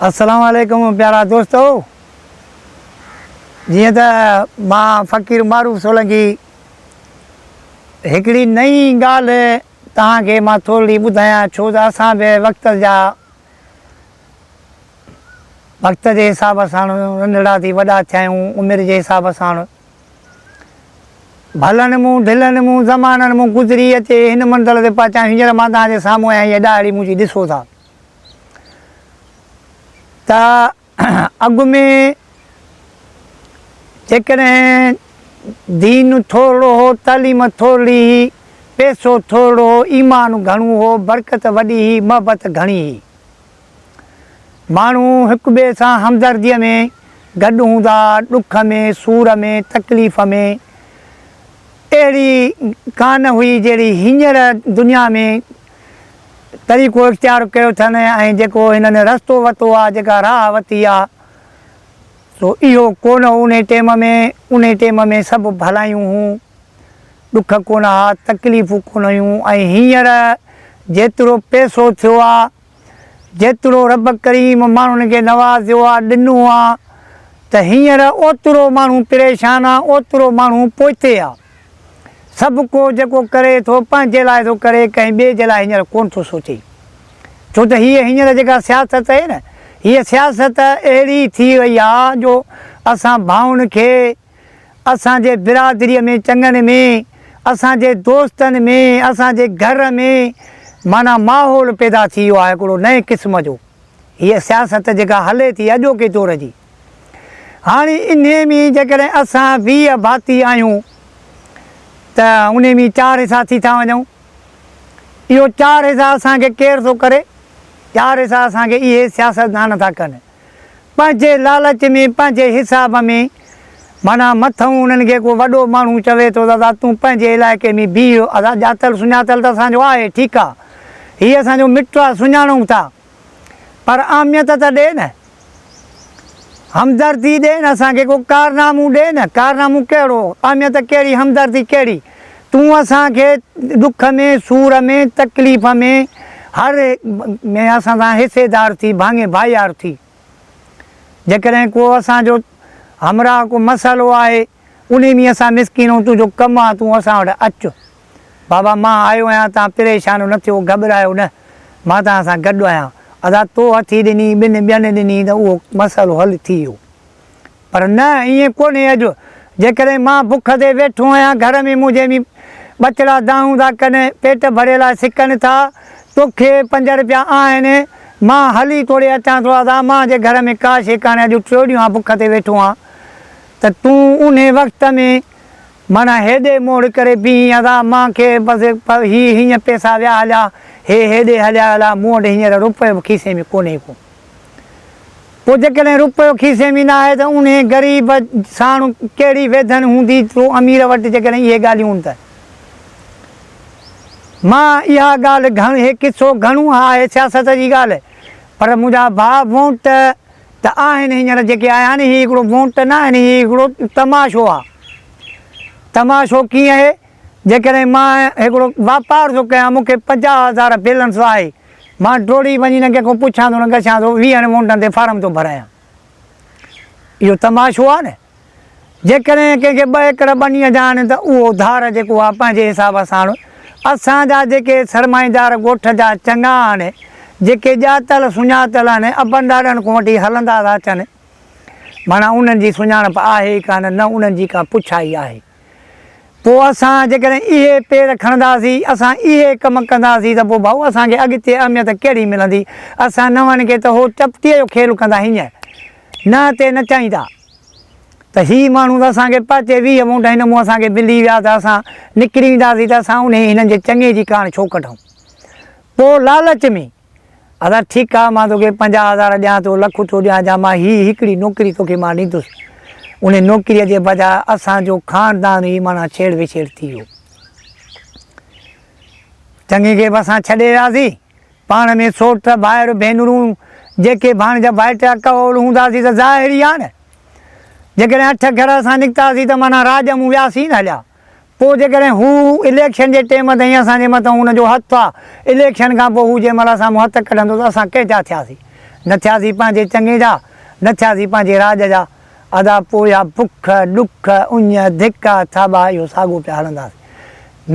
السلام عليڪم پيارا دوستو جيئن ته مان فقير معروف سولنگي هڪڙي نئين ڳالهه توهان کي مان ٿورڙي ٻڌايان ڇو ته اسان به وقت جا وقت جي حساب سان ننڍڙا ٿي وڏا ٿيا آهيون عمر جي حساب سان ڀلن مون ڍلن مون زمانن مون گذري اچي هن منزل تي پهچان هينئر مان توهان جي سامهون آهيان هيء ڏاهڙي منهنجي ڏسو ٿا ته اڳ ۾ جيڪڏهن دين ٿورڙو هو تعليم ٿورڙي هي پيسو ٿورڙو هو ايمان گهڻو هو برڪت وڏي هي محبت گهڻي هي ماڻهو هڪٻئي سان همدرديء ۾ گڏ هوندا، ڏک ۾، سور ۾، تڪليف ۾. اهڙي ڪا نه هئي جهڙي هينئر دنيا ۾ طريقو اختيار ڪيو اٿن ۽ جيڪو هنن رستو وتو آ، جيڪا راهه وتي آ، سو اهو ڪو نه هو انهي ٽيم ۾. انهي ٽيم ۾ سڀ ڀلايون هون، ڏک ڪونه ها، تڪليفون ڪونه هيون ۽ هينئر جيترو پئسو ٿيو آ، جيترو رب ڪريم ماڻهن کي نوازيو آ، ڏنو آ ته هينئر اوترو ماڻهو پريشان آ، اوترو ماڻهو پوئتي آ. سڀ ڪو جيڪو ڪري ٿو پنهنجي لاء ٿو ڪري ڪنهن ٻئي جي لاء هينئر ڪونه ٿو سوچي. ڇو ته هيء هينئر جيڪا سياست اهي نه هيء سياست اهڙي ٿي وئي آ جو اسان ڀائن کي اسان جي برادري ۾ چڱن ۾ اسان جي دوستن ۾ اسان جي گهر ۾ معنيٰ ماحول پيدا ٿي ويو آهي هڪڙو نئين قسم جو هيء سياست جيڪا هلي ٿي اڄوڪي دور جي هاڻي انهي ۾ جيڪڏهن اسان ويهه ڀاتي آهيون ته انهي ۾ چار حصا ٿي ٿا وڃون اهو چار حصا اسان کي ڪير ٿو ڪري چار حصا اسان کي اهي سياستدان ٿا ڪن. پنهنجي لالچ ۾ پنهنجي حساب ۾ معنيٰ مٿئون انهن کي ڪو وڏو ماڻهو چوي ٿو ته ادا تون پنهنجي علائقي ۾ بيهه اسان ڄاتل سڃاتل ته اسان جو آهي ٺيڪ آ هي اسان جو مٽ آ سڃاڻون ٿا پر اهميت ته ڏي نه همدردي ڏي نه اسان کي ڪو ڪارنامون ڏي نه ڪارنامون ڪهڙو اهميت ڪهڙي همدردي ڪهڙي. تون اسان کي ڏک ۾، سور ۾، تڪليف ۾، هر ۾ اسان سان حصيدار ٿي، ڀاڱي ڀائيار ٿي. جيڪڏهن ڪو اسان جو همراهه ڪو مسئلو آهي، انهي ۾ اسان مسڪين ۽ تنهنجو ڪم آ، تون اسان وٽ اچ. بابا مان آيو آهيان، توهان پريشان نه ٿيو، گهٻرايو نه، مان توهان سان گڏ آهيان. ادا تو هٿي ڏني، ٻن ٻين ڏني ته اهو مسئلو حل ٿي ويو. پر نه ائين ڪونهي اڄ جيڪڏهن مان بک تي ويٺو آهيان گهر ۾ منهنجي ۾ ٻچڙا دانهون ٿا ڪن پيٽ ڀري لاء سڪن ٿا توکي پنج رپيا آهن مان هلي توڙي اچان ٿو ادا مان جي گهر ۾ ڪا شي ڪانهي اڄ ٽيو ڏينهن آ بک تي ويٺو آهيان ته تون انهي وقت ۾ معنيٰ هيڏي موڙ ڪري بيهين ادا مان کي بس هي هينئن پئسا ويا هليا هي هيڏي هليا هليا مون وٽ هينئر رپيو به کيسي ۾ ڪونهي ڪو. پوء جيڪڏهن رپيو کيسي ۾ نه آهي ته انهي غريب ساڻ ڪهڙي ويڌن هوندي جو امير وٽ جيڪڏهن اهي ڳالهيون هن ته مان اها ڳالهه گهڻ هي قصو گهڻو اها آهي سياست جي ڳالهه پر منهنجا ڀاء وونٽ ته آهن هينئر جيڪي آيا آهن هي هڪڙو وونٽ نه آهن هي هڪڙو تماشو آهي تماشو ڪيئن اهي جيڪڏهن مان هڪڙو واپار ٿو ڪيان مون کي پنجاهه هزار بيلنس آهي مان ڊوڙي وڃي نه ڪنهن کان پڇان ٿو نه ڳڇان ٿو، ويهن وونٽن تي فارم ٿو ڀرايان. اهو تماشو آهي نه. جيڪڏهن ڪنهن کي ٻه ايڪڙ ٻنيء جا آهن ته اهو ڌار جيڪو آهي پنهنجي حساب ساڻ اسان جا جيڪي سرمائيدار ڳوٺ جا چڱا آهن، جيڪي ڄاتل سڃاتل آهن، ابن ڏاڏن کان وٺي هلندا ٿا اچن، معنيٰ انهن جي سڃاڻپ آهي ئي ڪانه، نه انهن جي ڪا پڇا ئي آهي. پوء اسان جيڪڏهن اهي پير کڻنداسين، اسان اهي ڪم ڪنداسين ته پوء ڀائو اسان کي اڳتي اهميت ڪهڙي ملندي؟ اسان نون کي ته هو چپٽيء جو کيل ڪندا هينئن نه تي نچائيندا ته هي ماڻهو ته اسان کي پهچي ويهه وونٽ هن مون اسان کي ملي ويا ته اسان نڪري وينداسين ته اسان انهي هنن جي چڱي جي ڪاڻ ڇو ڪڍون؟ پوء لالچ ۾. آزاد، ٺيڪ آ، مان توکي پنجاهه هزار ڏيان ٿو، لک اٿو ڏيان يا مان هي هڪڙي نوڪري توکي مان ڏيندس. انهي نوڪريء جي بجاء اسان جو خاندان ئي معنيٰ ڇيڙ وڇيڙ ٿي ويو. چڱي کي به اسان ڇڏي وياسين. پاڻ ۾ سوٽ، ڀائر، ڀينرون، جيڪي ڀاڻيجا ڀائٽ اڪ اول هونداسين ته ظاهر ئي آ نه. جيڪڏهن اٺ گهر اسان نڪتاسين ته معنيٰ راڄ مون وياسين هليا. پوء جيڪڏهن هو اليڪشن جي ٽيم تائين اسان جي مٿان هن جو هٿ آ، اليڪشن کان پوء هو جنهن مهل اسان مون هٿ ڪڍندو ته اسان ڪنهن جا ٿياسين؟ نه ٿياسين پنهنجي چڱي جا، نه ٿياسين پنهنجي راڄ جا. ادا پوء اها بک، ڏک، اڃ، ڌڪ، ٿاٻا اهو ساڳو پيا هلنداسين.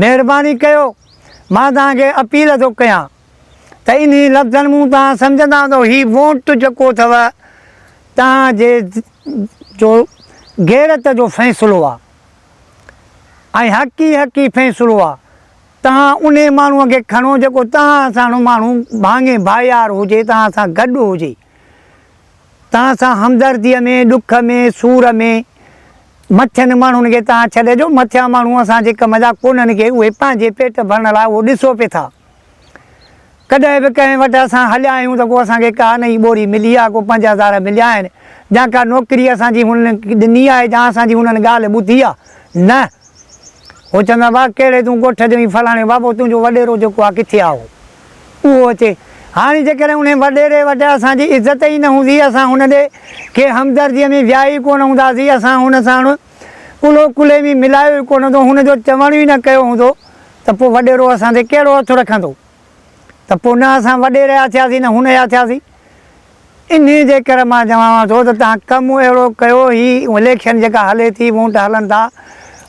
مهرباني ڪيو، مان توهان کي اپيل ٿو ڪيان ته انهي لفظن مون توهان سمجهندا ته هي وونٽ جيڪو اٿو توهان جي جو غيرت جو فيصلو آ. ۽ حق ئي حق ئي فيصلو آ. تهان انهي ماڻهوء کي کڻو جيڪو تهان ساڻ ماڻهو ڀاڱي ڀائيار هجي، تهان سان گڏ هجي، تهان سان همدرديء ۾، ڏک ۾، سور ۾. مٿين ماڻهن کي تهان ڇڏي ڏيو، مٿيان ماڻهو اسان جي ڪم جا ڪونهن ڪي اهي پنهنجي پيٽ ڀرڻ لاء اهو ڏسو پئي ٿا. ڪڏهن به ڪنهن وٽ اسان هليا آهيون ته ڪو اسان کي ڪا نئين ٻوري ملي آهي، ڪو پنج هزار مليا آهن، يا ڪا نوڪري اسان جي هنن ڏني آهي يا اسان جي هنن ڳالهه ٻڌي آهي، نه! هو چوندا هئا، واهه ڪهڙي تون ڳوٺ جو ۽ فلاڻي بابو تنهنجو وڏيرو جيڪو آهي ڪٿي آهي اهو؟ اهو اچي. هاڻي جيڪڏهن انهي وڏيري وٽ اسان جي عزت ئي نه هوندي، اسان هن ڏي کي همدرديء ۾ ويا ئي ڪونه هونداسين، اسان هن ساڻ ڪلهو ڪلهي ۾ ملايو ئي ڪونه هوندو، هن جو چوڻ ئي نه ڪيو هوندو ته پوء وڏيرو اسان تي ڪهڙو هٿ رکندو؟ ته پوء نه اسان وڏيري جا ٿياسين نه هن جا ٿياسين. انهي جي ڪري مان چوانو ٿو ته توهان ڪم اهڙو ڪيو هي اليڪشن جيڪا هلي ٿي وونٽ هلن ٿا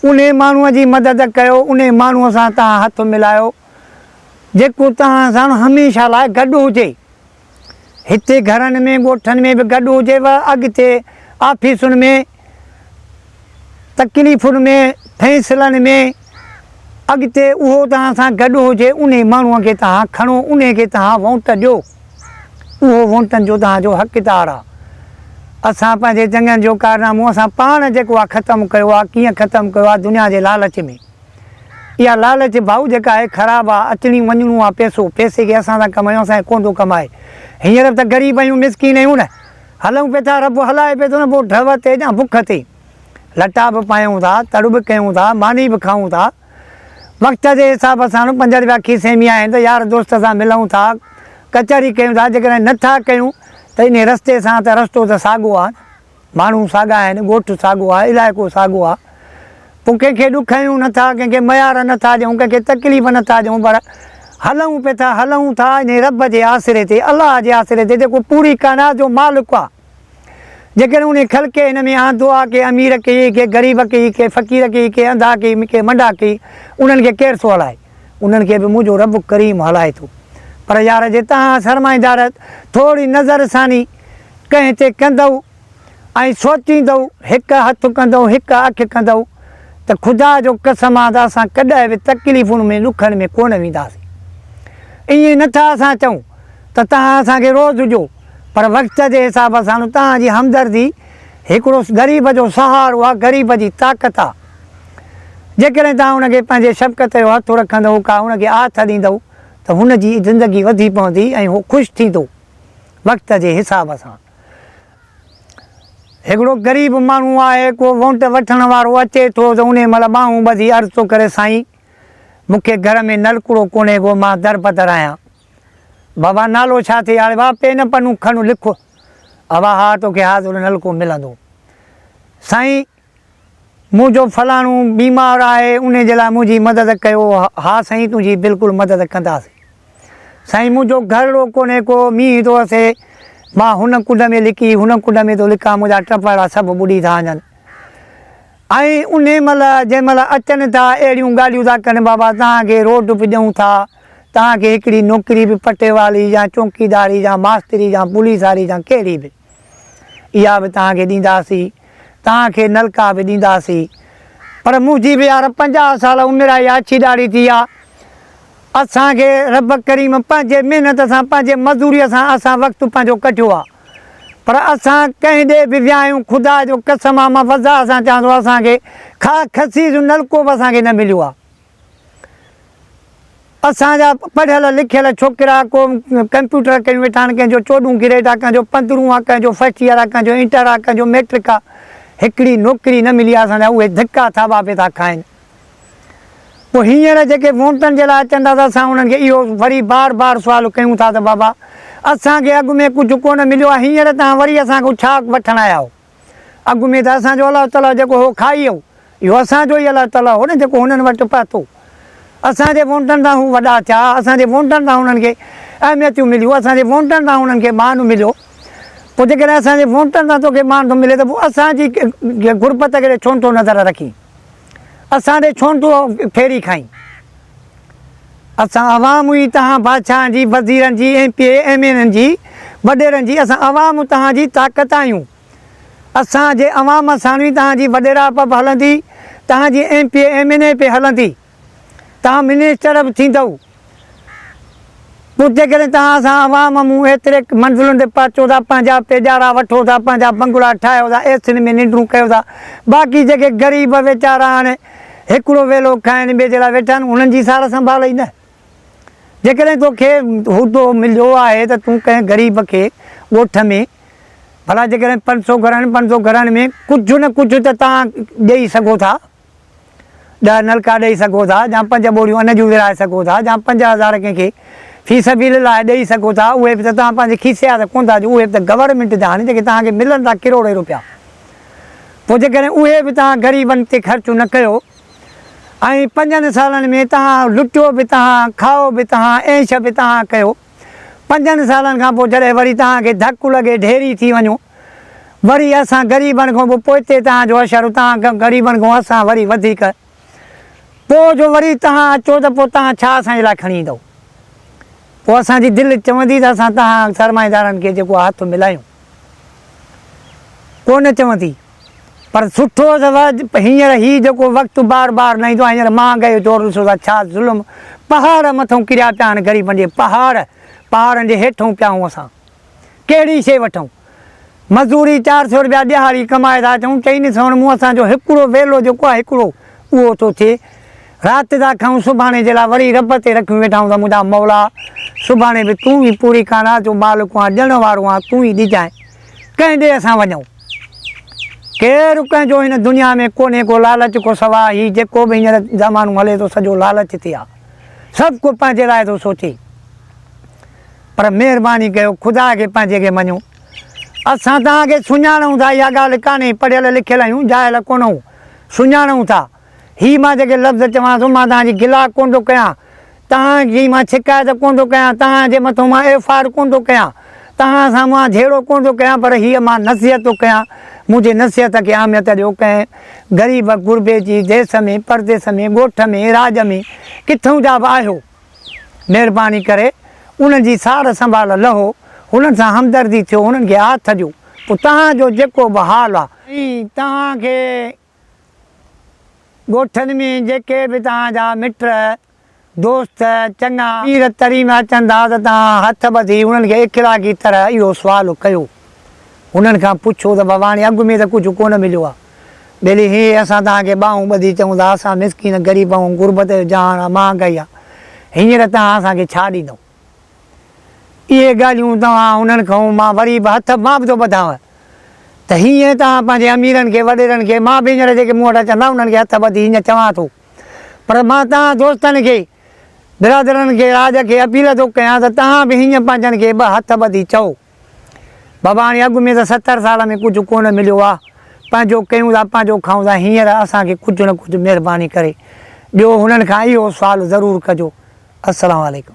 انهي ماڻهو جي مدد ڪيو انهي ماڻهو سان توهان هٿ ملايو جيڪو توهان سان هميشه لاء گڏ هجي. هتي گهرن ۾ ڳوٺن ۾ به گڏ هجي و اڳتي آفيسن ۾ تڪليفن ۾ فيصلن ۾ اڳتي اهو توهان سان گڏ هجي انهي ماڻهو کي توهان کڻو انهي کي توهان وونٽ ڏيو اهو وونٽن جو توهان جو حقدار آ اسان پنهنجي جنگن جو ڪارنامو اسان پاڻ جيڪو آ ختم ڪيو آ ڪيئن ختم ڪيو آ دنيا جي لالچ ۾. اها لالچ ڀائو جيڪا آهي خراب آ اچڻي وڃڻو آ پيسو پيسي کي اسان سان ڪمايو اسان کي ڪوندو ڪمائي هينئر به ته غريب آهيون مسڪين آهيون نه هلون پي ٿا رب هلائي پي ٿو نه پوء ڍؤ تي جا بک تي لٽا به پايون ٿا تڙ به ڪيون ٿا ماني به کائون ٿا وقت جي حساب سان پنج رپيا کيسي ۾ آهن ته يار دوست سان ملون ٿا ڪچهري ڪيون ٿا جيڪڏهن نه ٿا ڪيون ته انهي رستي سان ته رستو ته ساڳو آ نه. ماڻهو ساڳا آهن، ڳوٺ ساڳو آهي، علائقو ساڳو آهي. پوء ڪنهن کي ڏک هنيون نه ٿا، ڪنهن کي ميار نه ٿا ڏيون، ڪنهن کي تڪليف نه ٿا ڏيون پر هلون پي ٿا، هلون ٿا انهي رب جي آسري تي، الله جي آسري تي جيڪو پوري ڪائنات جو مالڪ آهي. جيڪڏهن انهي خلقي هن ۾ آندو آهي، ڪي امير ڪي ڪي غريب ڪي ڪي فقير ڪي ڪي انڌا ڪي ڪي منڊا ڪي انهن کي ڪير ٿو هلائي؟ انهن کي به منهنجو رب ڪريم هلائي ٿو. پر يار جي تهان سرمائيدار ٿوري نظر ثاني ڪنهن تي ڪندئو ۽ سوچيندئو هڪ هٿ ڪندئو هڪ اک ڪندئو ته خدا جو قسم آ ته اسان ڪڏهن به تڪليفن ۾ ڏکن ۾ ڪونه وينداسين ائين نه ٿا اسان چئون ته تهان اسان کي روز ڏجو پر وقت جي حساب سان تهان جي همدردي هڪڙو غريب جو سهارو آ غريب جي طاقت آ جيڪڏهن تهان ان کي پنهنجي شفقت جو هٿ رکندئو ڪا ان کي آٿ ڏيندئو ته هن جي زندگي وڌي پوندي ۽ هو خوش ٿيندو. وقت جي حساب سان هڪڙو غريب ماڻهو آهي ڪو وونٽ وٺڻ وارو اچي ٿو ته انهي مهل ٻانهون ٻڌي عرض ٿو ڪري سائين مون کي گهر ۾ نلڪڙو ڪونهي ڪو مان درپدر آهيان بابا نالو ڇا ٿئي آڙي وا پين پنون کڻ لک اوا ها توکي حاضر نلڪو ملندو سائين منهنجو فلاڻو بيمار آهي انهي جي لاء منهنجي مدد ڪيو ها سائين تنهنجي بلڪل مدد ڪنداسين سائين منهنجو گهرڙو ڪونهي ڪو مينهن ٿو وسي مان هن ڪنڊ ۾ لڪي هن ڪنڊ ۾ ٿو لڪان منهنجا ٽپڙا سڀ ٻڏي ٿا وڃن ۽ انهي مهل جنهن مهل اچن ٿا اهڙيون ڳالهيون ٿا ڪن بابا توهان کي روڊ به ڏيون ٿا توهان کي هڪڙي نوڪري به پٽيوالي جا چونڪيداري جا ماستري جا پوليساري جا ڪهڙي به اها به توهان کي ڏينداسين، توهان کي نلڪا به ڏينداسين، پر منهنجي به يار پنجاهه سال عمر آهي، آڇي ڏاڙهي ٿي آ، اسان کي رب ڪريم پنهنجي محنت سان، پنهنجي مزوريء سان اسان وقت پنهنجو ڪڍيو آ، پر اسان ڪنهن ڏي به ويا آهيون، خدا جو قسم آ، مان وضاح سان چوان ٿو، اسان کي خاڪ خصيص نلڪو به اسان کي نه مليو آ. اسان جا پڙهيل لکيل ڇوڪرا ڪو ڪمپيوٽر ڪري ويٺا آهن، ڪنهن جو چوڏهون گريڊ آ، ڪنهن جو پندرهون آ، ڪنهن جو فرسٽ ايئر آ، ڪنهن جو انٽر آ، ڪنهن جو ميٽرڪ آ، هڪڙي نوڪري نه ملي آ، اسان جا اهي ڌڪا ٿاٻا پئي ٿا کائين. پوء هينئر جيڪي وونٽن جي لاء اچن ٿا ته اسان انهن کي اهو وري بار بار سوال ڪيون ٿا ته بابا اسان کي اڳ ۾ ڪجهه ڪونه مليو آ، هينئر توهان وري اسان کان ڇا وٺڻ آيا آهيو؟ اڳ ۾ ته اسان جو الله تعاليٰ جيڪو هو کائي هو، اهو اسان جو ئي الله تعاليٰ هو نه جيڪو هنن وٽ پهتو. اسان جي وونٽن تان هو وڏا ٿيا، اسان جي وونٽن تان هنن کي اهميتيون مليون، اسان جي وونٽن تان هنن کي مان مليو. پوء جيڪڏهن اسان جي وونٽن تان توکي مان ٿو ملي ته پوء اسان جي غربت کي ڇو نٿو نظر رکين؟ اسان ڏي ڇونه تون ڦيري کائين؟ اسان عوام ئي تهان بادشاهن جي، وزيرن جي، M P A, M N N جي، وڏيرن جي، اسان عوام تهان جي طاقت آهيون. اسان جي عوام ساڻ ئي تهان جي وڏيراپ به هلندي، تهان جي M P A, M N A به هلندي. تان منسٽر به ٿيندؤ پوء جيڪڏهن تان اسان عوام مون ايتري منزلن تي پهچو ٿا پنهنجا پيڄارا وٺو ٿا پنهنجا بنگلا ٺاهيو ٿا اي سين ۾ ننڊون ڪيو ٿا باقي جيڪي غريب ويچارا هاڻي هڪڙو ويلو کائن ٻي جي لاء ويٺا آهن انهن جي سار سنڀال ئي نه جيڪڏهن توکي عهدو مليو آهي ته تون ڪنهن غريب کي ڳوٺ ۾ ڀلا جيڪڏهن پنج سو گهرن پنج سو گهرن ۾ ڪجهه نه ڪجهه ته تان ڏئي سگهو ٿا. ڏهه نلڪا ڏئي سگهو ٿا يا پنج ٻوريون ان جون ورهائي سگهو ٿا يا پنج هزار ڪنهن کي في سبيل الله ڏئي سگهو ٿا اهي به ته توهان پنهنجي کيسي جا ته ڪونه ٿا ڏيو اهي به ته گورنمينٽ جا آهن جيڪي توهان کي ملن ٿا ڪروڙين روپيا پوء جيڪڏهن اهي به توهان غريبن تي خرچ نه ڪيو ۽ پنجن سالن ۾ توهان لٽيو به توهان کائو به توهان عيش به توهان ڪيو پنجن سالن کان پوء جڏهن وري توهان کي ڌڪ لڳي ڍيري ٿي وڃو وري اسان غريبن کون به پوئتي توهان جو حشر توهان غريبن کون اسان وري وڌيڪ پوء جو وري توهان اچو ته پوء توهان ڇا اسان جي لاء کڻي ايندؤ پوء اسان جي دل چوندي ته اسان توهان سرمائيدارن کي جيڪو هٿ ملايون ڪو نه چوندي پر سٺو اٿس جو هينئر هي جيڪو وقت بار بار نه ايندو آهي هينئر مهانگائي جو دور ڏسو ٿا ڇا ظلم پهاڙ مٿئون ڪريا پيا آهن غريبن جي پهاڙ پهاڙن جي هيٺئون پيا آهيون اسان ڪهڙي شي وٺون مزوري چار سئو رپيا ڏهاڙي ڪمائي ٿا اچون چئني سئون مون اسان جو هڪڙو ويلو جيڪو آهي هڪڙو اهو ٿو ٿئي رات ٿا کائون سڀاڻي جي لاء وري رب تي رکيون ويٺا آهيون ته منهنجا مولا سڀاڻي به تون ئي پوري ڪانا جو مالڪ آهن ڏيڻ وارو آهن تون ئي ڏجانء ڪنهن ڏي اسان وڃون؟ ڪير ڪنهن جو هن دنيا ۾ ڪونهي ڪو لالچ کان سواء هي جيڪو به هينئر زمانو هلي ٿو سڄو لالچ تي آ سڀ ڪو پنهنجي لاء ٿو سوچي پر مهرباني ڪيو خدا کي پنهنجي کي مڃو اسان توهان کي سڃاڻون ٿا اها ڳالهه ڪانهي پڙهيل لکيل آهيون جاهل ڪونهون سڃاڻون ٿا هي مان جيڪي لفظ چوان ٿو، مان توهان جي گلا ڪونه ٿو ڪيان، توهان جي مان شڪايت ڪونه ٿو ڪيان، توهان جي مٿو مان ايف آر ڪونه ٿو ڪيان، توهان سان مان جهيڙو ڪونه ٿو ڪيان، پر هيء مان نصيحت ٿو ڪيان، منهنجي نصيحت کي اهميت ڏيو، ڪنهن غريب غربي جي ديس ۾ پرديس ۾ ڳوٺ ۾ راڄ ۾ ڪٿئون جا به آهيو، مهرباني ڪري انهن جي سار سنڀال لهو، هنن سان همدردي ٿيو، هنن کي هاٿ ڏيو، پوء توهان جو جيڪو به حال آ. ۽ توهان کي ڳوٺن ۾ جيڪي به توهان جا مٽ، دوست، چڱا پير تري ۾ اچن ٿا ته توهان هٿ ٻڌي انهن کي اخلاقي طرح اهو سوال ڪيو. انهن کان پڇو ته ڀڳواڻي اڳ ۾ ته ڪجهه ڪونه مليو آهي. ٻيلي هي اسان توهان کي ٻانهون ٻڌي چئون ٿا اسان مسڪين غريب آهيون غربت جو جهان آهي مهانگائي آهي هينئر توهان اسان کي ڇا ڏيندئو؟ اهي ڳالهيون توهان انهن کئون مان وري به هٿ مان به ٿو ٻڌانء ته هينئن توهان پنهنجي اميرن کي وڏيرن کي مان به هينئر جيڪي مون وٽ اچن ٿا انهن کي هٿ ٻڌي هينئن چوان ٿو پر مان توهان دوستن کي برادرن کي راڄ کي اپيل ٿو ڪيان ته توهان به هينئن پنهنجن کي به هٿ ٻڌي چئو. بابا هاڻي اڳ ۾ ته ستر سال ۾ ڪجهه ڪونه مليو آ، پنهنجو ڪيون ٿا پنهنجو کائون ٿا هينئر اسان کي ڪجهه نه ڪجهه مهرباني ڪري ڏيو هنن کان اهو سوال ضرور ڪجو السلام عليڪم.